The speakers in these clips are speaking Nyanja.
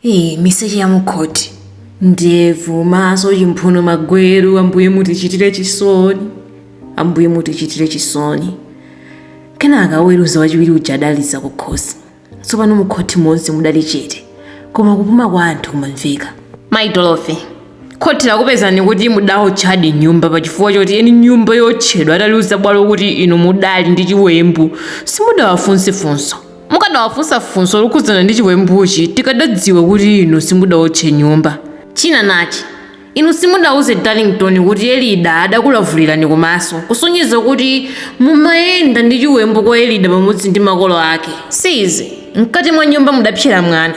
Ee, miseche ya mukhoti, ndevu, maso, chimphuno, magweru, Ambuye mutichitire chisoni, Ambuye mutichitire chisoni. Kenaka woweruza wachiwiri uja adaliza kukhosi. Tsopano mukhoti monse mudali chete, koma kupuma kwa anthu kumamveka. Mayi Dorothy, khoti lakupezani kuti mudaotchadi nyumba pa chifukwa choti eni nyumba yotchedwa adaliuza bwalo kuti inu mudali ndi chiwembu, simudawafunse funso. Mukadawafunsa funso lokhudzana ndi chiwembuchi tikadadziwa kuti inu simudaotche nyumba. China nachi, inu simudauze Darlington kuti Elida adakulavulirani kumaso, kusonyeza kuti mumayenda ndi chiwembu kwa Elida pamodzi ndi makolo ake. Si izi, mkati mwa nyumba mudapsera mwana.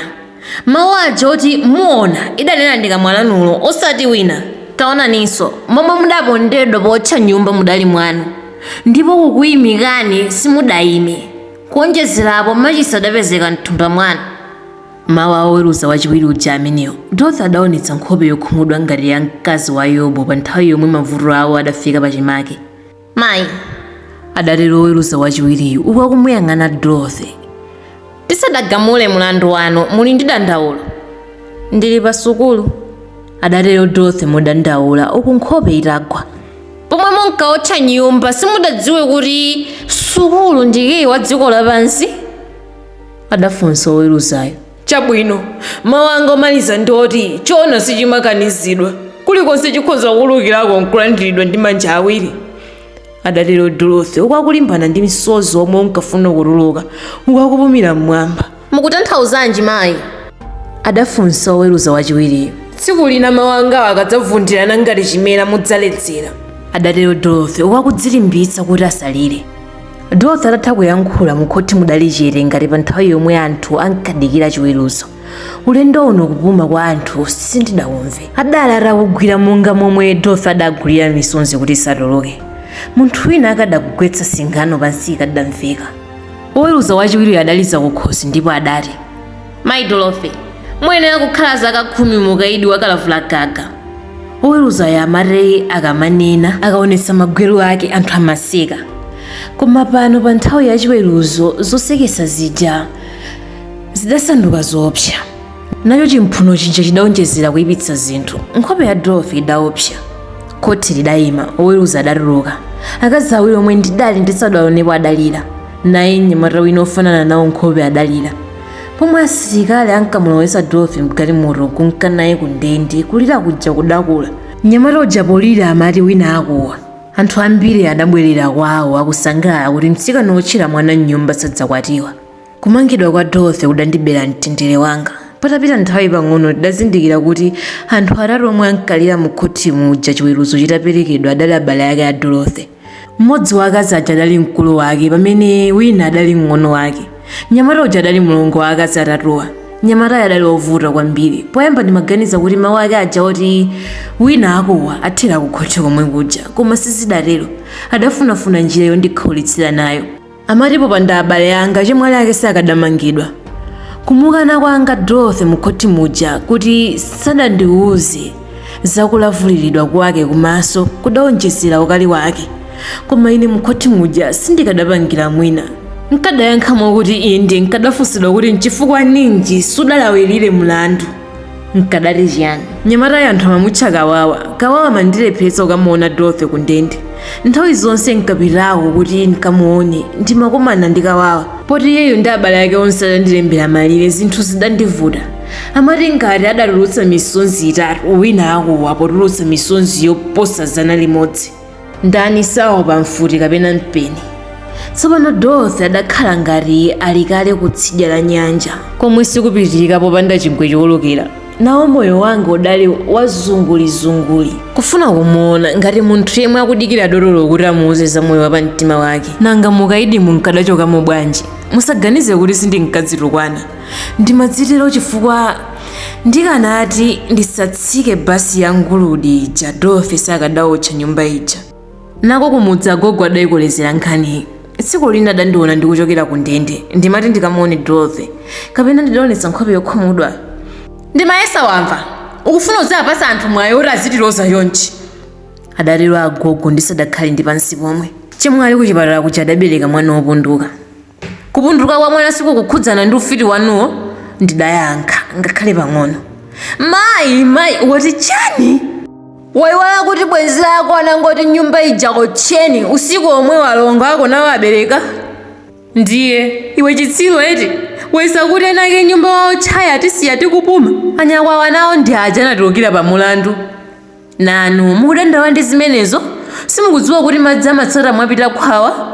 Mawu aja oti muona idanena nkamwa lanulo osati wina. Taonaninso, momwe mudapondedwa pootcha nyumba mudali mwanu, ndipo kukuimikani simudaime. Kuonjezera apo, machisi adapezeka m'thumba mwanu. mawu a woweruza wachiwiri uja amenewo, Dorothy adaonetsa nkhope yokhumudwa ngati ya mkazi wa Yobu pa nthawi yomwe mavuto awo adafika pachimake. Mayi, adatero woweruza wachiwiriyu uku akumuyang'ana Dorothy. Tisadagamule mlandu wanu, muli ndi dandaulo? Ndili pasukulu, adatero Dorothy modandaula uku nkhope itagwa. pomwe munkaotcha nyumba simudadziwe kuti sukulu ndi kiyi wa dziko lapansi adafunsa oweruzayo chabwino mawu anga omaliza ndi oti choona sichimakanizidwa kulikonse chikhoza kuwulukirako nkulandiridwa ndi manja awiri adatero dorothy uku akulimbana ndi msozi omwe unkafuna kutuluka uku akupumira mmwamba Mukutanthauzanji mayi? adafunsa woweruza wachiwiriyo. Tsiku lina mawu angawa akadzavundirana ngati chimera mudzaledzera. adatero Dorothy uku akudzilimbitsa kuti asalire. Dorothy atatha kuyankhula mukhothi mudali chete ngati pa nthawi yomwe anthu ankadikira chiweruzo. Ulendo uno kupuma kwa anthu sindidaumve. Adali atakugwira monga momwe Dorothy adagwirira misonzi kuti isatuluke. Munthu wina akadagwetsa singano pansi ikadamveka. Woweruza wachiwiriyo adaliza kukhosi ndipo adati, Mayi Dorothy, muyenera kukhala zaka khumi mu ukaidi wakalavula gaga. Woweruzayo amati akamanena, akaonetsa magweru ake, anthu amaseka. Koma pano pa nthawi ya chiweruzo zoseketsa zija zidasanduka zoopsa. Nacho chimphuno chija chidaonjezera kuipitsa zinthu. Nkhope ya Dorothy idaopsa. Khoti lidaima, oweruza adatuluka. Akazi awiri omwe ndidali ndisadaonepo adalira. Naye mnyamata wina ofanana nawo nkhope adalira. Pomwe asilikali ankamulowetsa Dorothy mgalimoto kunka naye ku ndende, kulira kuja kudakula. Mnyamata uja polira amati wina akuwa. Anthu ambiri adabwerera kwawo akusangalala kuti mtsikana wotchera mwana m'nyumba sadzakwatiwa. Kumangidwa kwa Dorothy kudandibera mtendere wanga. Patapita nthawi pang'ono tidazindikira kuti anthu atatu omwe ankalira mu khothi muja chiweruzo chitaperekedwa adali abale ake a Dorothy. Mmodzi wa akazi aja adali mkulu wake pamene wina adali mng'ono wake. Mnyamata uja adali mlongo wa akazi atatuwa. Mnyamatayo adali wovuta kwambiri. Poyamba ndimaganiza kuti mawu ake aja oti wina akuwa athera ku khothi komwe kuja, koma sizidatero. Adafunafuna njira yondikhaulitsira nayo. amati popanda abale anga chemwali ake sakadamangidwa kumukana kwanga dorothy mukhothi muja kuti sadandiwuze zakulavuliridwa kwake kumaso kudaonjezera ukali wake koma ine mukhothi muja sindikadapangira mwina nkadayankhamo kuti inde nkadafunsidwa kuti nchifukwa ninji sudalawirire mlandu nkadati chiyani mnyamatayo anthu amamutcha kawawa kawawa amandilepheretsa kukamuona dorothy ku ndende nthawi zonse nkapitako kuti nkamuone ndimakomana ndi kawawa poti iyeyo ndi abale ake onse adandilembera malire zinthu zidandivuta amati ngati adatulutsa misonzi itatu wina akuwa potulutsa misonzi yoposa zana limodzi ndani saopa mfuti kapena mpeni tsopano dorothy adakhala ngati ali kale kutsidya la nyanja komwe sikupitirika popanda chingwe chowolokera nawo moyo wanga udali wazungulizunguli kufuna kumuona ngati munthu yemwe akudikira dotolo kuti amuuze za moyo wa pamtima wake nanga mukaidi munkadachokamo bwanji musaganize kuti sindinkadzitukwana ndimadzitero chifukwa ndikanati ndisatsike basi ya nguludi ija dorothy sakadaotcha nyumba ija nako kumudzi agogo adayikolezera nkhaniyi tsiku lina adandiona ndikuchokera ku ndende ndimati ndikamuone dorothy kapena ndidaonetsa nkhope yokhumudwa ndimayesa wamva ukufuna kudzapatsa anthu mwayi oti azitiloza chonchi adatero agogo ndisadakhale ndi pansi pomwe chemwali kuchipatala kuja adabereka mwana wopunduka Kupunduka kwa mwana sikukukhudzana ndi ufiti wanuwo? Ndidayankha, Ngakhale pang'ono. Mayi! Mayi! Wati chani? Waiwala kuti bwenzi lako anangoti nyumba ija otcheni usiku omwewo alongo ako nawo abereka? Ndiye, iwe chitsiru eti? Wayesa kuti eni ake nyumba waotchayi atisiya tikupuma? Anyakwawa nawo ndi aja anatulukira pamulandu. Nanu mukudandaula ndi zimenezo? Simukudziwa kuti madzi amatsata mwapita khwawa?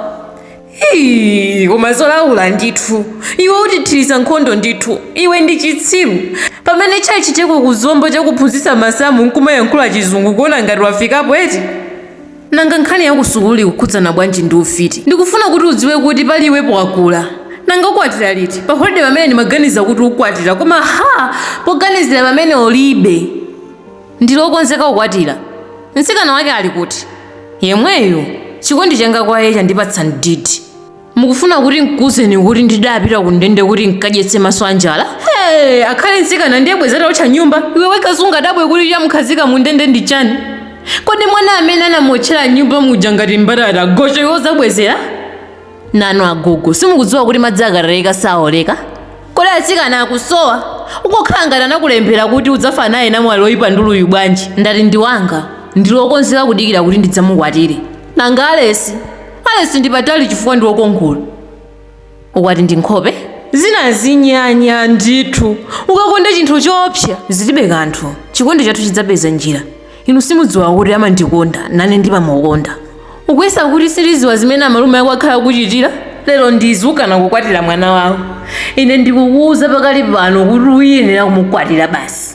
Hii, koma zolaula ndithu. Iwe utithiritsa nkhondo ndithu. Iwe ndi chitsiru. Pamene chachiteko ku Zomba chakuphunzitsa masamu nkumayankhula chizungu kuona ngati wafikapo eti? Nanga nkhani ya kusukulu ikukhudzana bwanji ndi ufiti? Ndikufuna kuti udziwe kuti pali iwepo wakula. Nanga ukwatira liti? Pa holide pamene ndimaganiza kuti ukwatira koma ha! Poganizira pamene ulibe. Ndili okonzeka kukwatira. Mtsikana wake ali kuti? Yemweyu. Chikondi changa kwa iye chandipatsa mdidi. Mukufuna kuti nkuuzeni kuti ndidapita kundende kuti nkadyetse maso a njala? Hey, akhale mtsikana ndiye bwezi ataotcha nyumba. Iwe wekha sungadabwe kuti chamkhazika mundende ndi chani? Kodi mwana amene anamuotchera mnyumba muja ngati mbatata gocho iwe udzabwezera? nanu agogo simukudziwa kuti madzi akatayika saoleka kodi atsikana akusowa ukokhala ngati anakulembera kuti udzafa naye namwali oyipa nduluyu bwanji ndati ndi wanga ndili okonzeka kudikira kuti ndidzamukwatire nanga alesi alesi ndi patali chifukwa ndi wokongola ukwati ndi nkhope zina zinyanya ndithu ukakonda chinthu choopsa zilibe kanthu chikondi chathu chidzapeza njira inu simudziwa kuti amandikonda nane ndimamukonda ukuyesa kuti sitidziwa zimene amalume ako akhala akukuchitira lero ndizukana kukwatira mwana wawo ine ndikukuwuza pakali pano kuti uyenera kumukwatira basi